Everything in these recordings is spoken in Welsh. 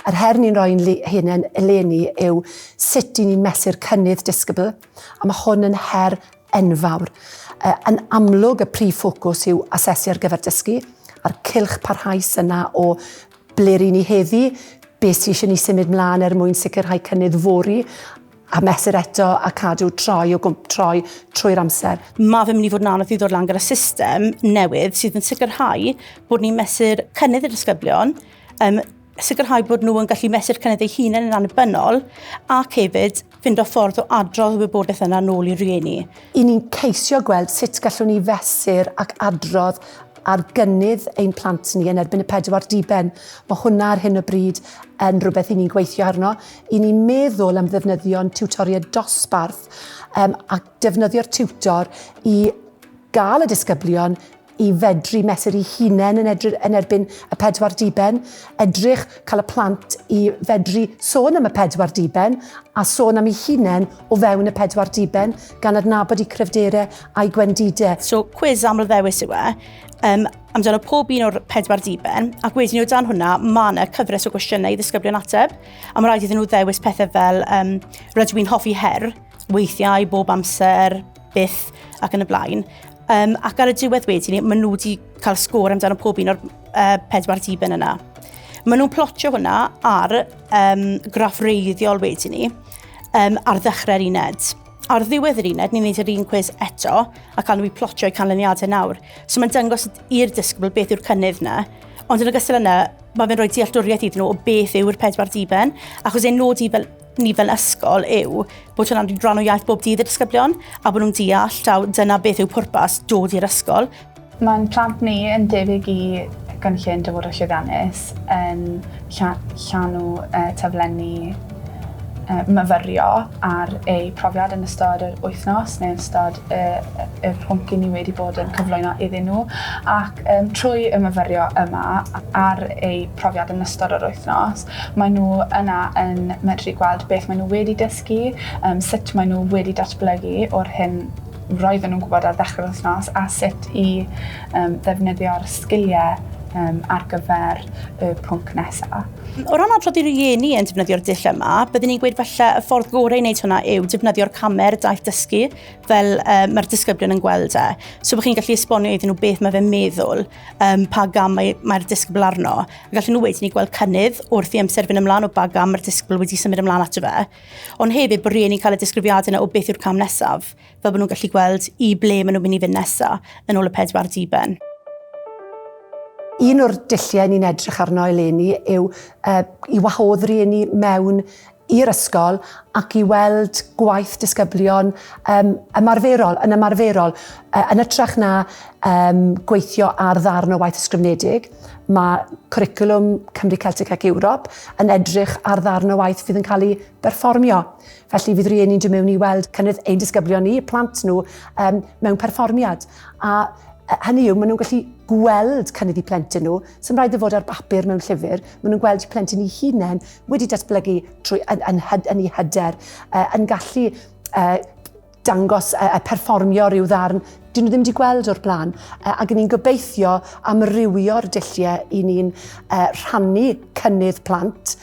Yr her ni'n rhoi yn hunain eleni yw sut i ni'n mesur cynnydd disgybl, a mae hwn yn her enfawr. Uh, yn amlwg, y prif ffocws yw asesu ar gyfer dysgu, a'r cilch parhaus yna o ble ry'n ni heddi, beth sy'n eisiau ni symud mlaen er mwyn sicrhau cynnydd fori, a mesur eto a cadw troi o gwmp troi trwy'r amser. Mae fe'n mynd i fod yn anodd i ddod lan gyda system newydd sydd yn sicrhau bod ni'n mesur cynnydd y disgyblion, um, sicrhau bod nhw yn gallu mesur cynnydd eu hunain yn annibynnol ac hefyd fynd o ffordd o adrodd y wybodaeth yna nôl i'r rhieni. I ni'n ceisio gweld sut gallwn ni fesur ac adrodd ar gynnydd ein plant ni yn erbyn y pedwar diben. Mae hwnna ar hyn o bryd yn rhywbeth i ni'n gweithio arno. i ni meddwl am ddefnyddio'n tiwtoriaid dosbarth um, a defnyddio'r tiwtor i gael y disgyblion i fedru mesuru'i hunain yn, edrych, yn erbyn y pedwar diben, edrych cael y plant i fedru sôn am y pedwar diben a sôn am ei hunain o fewn y pedwar diben gan adnabod i cryfderau a'i gwendidau. So, cwiz aml ddewis yw e. Um, amdano pob un o'r pedwar diben, ac wedyn o dan hwnna, mae yna cyfres o gwestiynau i ddisgyblion ateb, a mae rhaid iddyn nhw ddewis pethau fel um, rydw i'n hoffi her, weithiau, bob amser, byth, ac yn y blaen. Um, ac ar y diwedd wedyn, maen nhw wedi cael sgôr amdano pob un o'r uh, pedwar diben yna. Maen nhw'n plotio hwnna ar um, graff reiddiol wedyn ni, um, ar ddechrau'r uned. Ar ddiwedd yr uned, ni'n neud yr un cwis eto, ac alwn ni plotio eu canlyniadau nawr. So mae'n dangos i'r disgybl beth yw'r cynnydd yna, ond yn ogystal yna, mae fe'n rhoi dealltwriaeth iddyn nhw o beth yw'r pedwar diben, achos ein nod i fel ni fel ysgol yw bod hwnna'n rhan o iaith bob dydd y disgyblion a bod nhw'n deall taw dyna beth yw pwrpas dod i'r ysgol. Mae'n plant ni yn debyg i gynllun dyfodol llwyddiannus yn lla- llanw y taflenni y myfyrio ar eu profiad yn ystod yr wythnos neu yn ystod y, y, y pwnc i ni wedi bod yn cyflwyno iddyn nhw ac um, trwy y myfyrio yma ar eu profiad yn ystod yr wythnos mae nhw yna yn medru gweld beth mae nhw wedi dysgu, um, sut mae nhw wedi datblygu o'r hyn roedden nhw'n gwybod ar ddechrau'r wythnos a sut i um, ddefnyddio'r sgiliau um, ar gyfer y pwnc nesaf. O ran adrodd i rieni yn defnyddio'r dull yma, byddwn ni'n gweud falle y ffordd gorau i wneud hwnna yw defnyddio'r camer daith dysgu fel um, mae'r disgyblion yn gweld e. So byddwch chi'n gallu esbonio iddyn nhw beth mae fe'n meddwl, um, pa gam mae'r mae disgybl arno. A gallen nhw wedyn ni gweld cynnydd wrth i amser fynd ymlaen o ba gam mae'r disgybl wedi symud ymlaen ato fe. Ond hefyd bod rhieni'n cael y disgrifiad yna o beth yw'r cam nesaf, fel bod nhw'n gallu gweld i ble maen nhw'n mynd i fynd nesa yn ôl y pedwar diben. Un o'r dulliau ni'n edrych arno eleni yw uh, i wahodd rhieni mewn i'r ysgol ac i weld gwaith disgyblion um, ymarferol, yn ymarferol, uh, yn ytrach na um, gweithio ar ddarn o waith ysgrifnedig. Mae cwricwlwm Cymru Celtic ac Ewrop yn edrych ar ddarn o waith fydd yn cael ei berfformio. Felly fydd rhieni'n dod mewn i weld cynnydd ein disgyblion ni, plant nhw, um, mewn perfformiad. A hynny yw, maen nhw'n gallu gweld cynnydd i plentyn nhw, sy'n rhaid i fod ar bapur mewn llyfr, maen nhw'n gweld plentyn i hunain wedi datblygu trwy, yn, yn, yn, yn ei hyder, uh, yn gallu uh, dangos a perfformio rhyw ddarn dyn nhw ddim wedi gweld o'r blaen. Ac ni'n gobeithio amrywio'r dulliau i ni'n rhannu cynnydd plant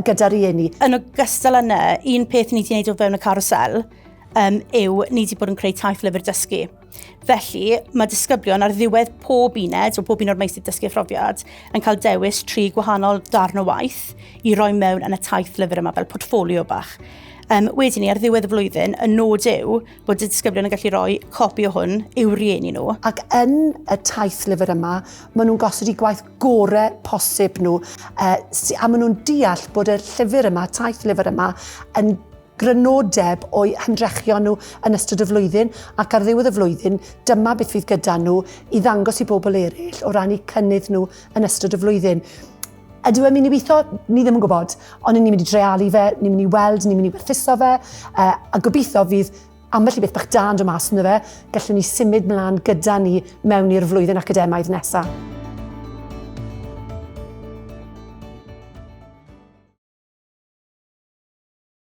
gyda'r rhieni. Yn ogystal â hynny, un peth ni wedi gwneud o fewn y carwsel um, yw ni wedi bod yn creu taith lyfr dysgu. Felly, mae disgyblion ar ddiwedd pob uned o pob un o'r meisydd dysgu a phrofiad yn cael dewis tri gwahanol darn o waith i roi mewn yn y taith lyfr yma fel portfolio bach. Um, wedyn ni, ar ddiwedd y flwyddyn, y nod yw bod y disgyblion yn gallu rhoi copi o hwn i'w rieni nhw. Ac yn y taith lyfr yma, maen nhw'n gosod i gwaith gore posib nhw, uh, a maen nhw'n deall bod y llyfr yma, taith lyfr yma, yn grynodeb o'i hymdrechion nhw yn ystod y flwyddyn ac ar ddiwedd y flwyddyn dyma beth fydd gyda nhw i ddangos i bobl eraill o ran eu cynnydd nhw yn ystod y flwyddyn. Ydyw e'n mynd i weithio? Ni ddim yn gwybod, ond ni'n mynd i drealu fe, ni'n mynd i weld, ni'n mynd i werthuso fe, uh, a gobeithio fydd ambell i beth bach dan do mas ynddo fe, gallwn ni symud mlaen gyda ni mewn i'r flwyddyn academaidd nesaf.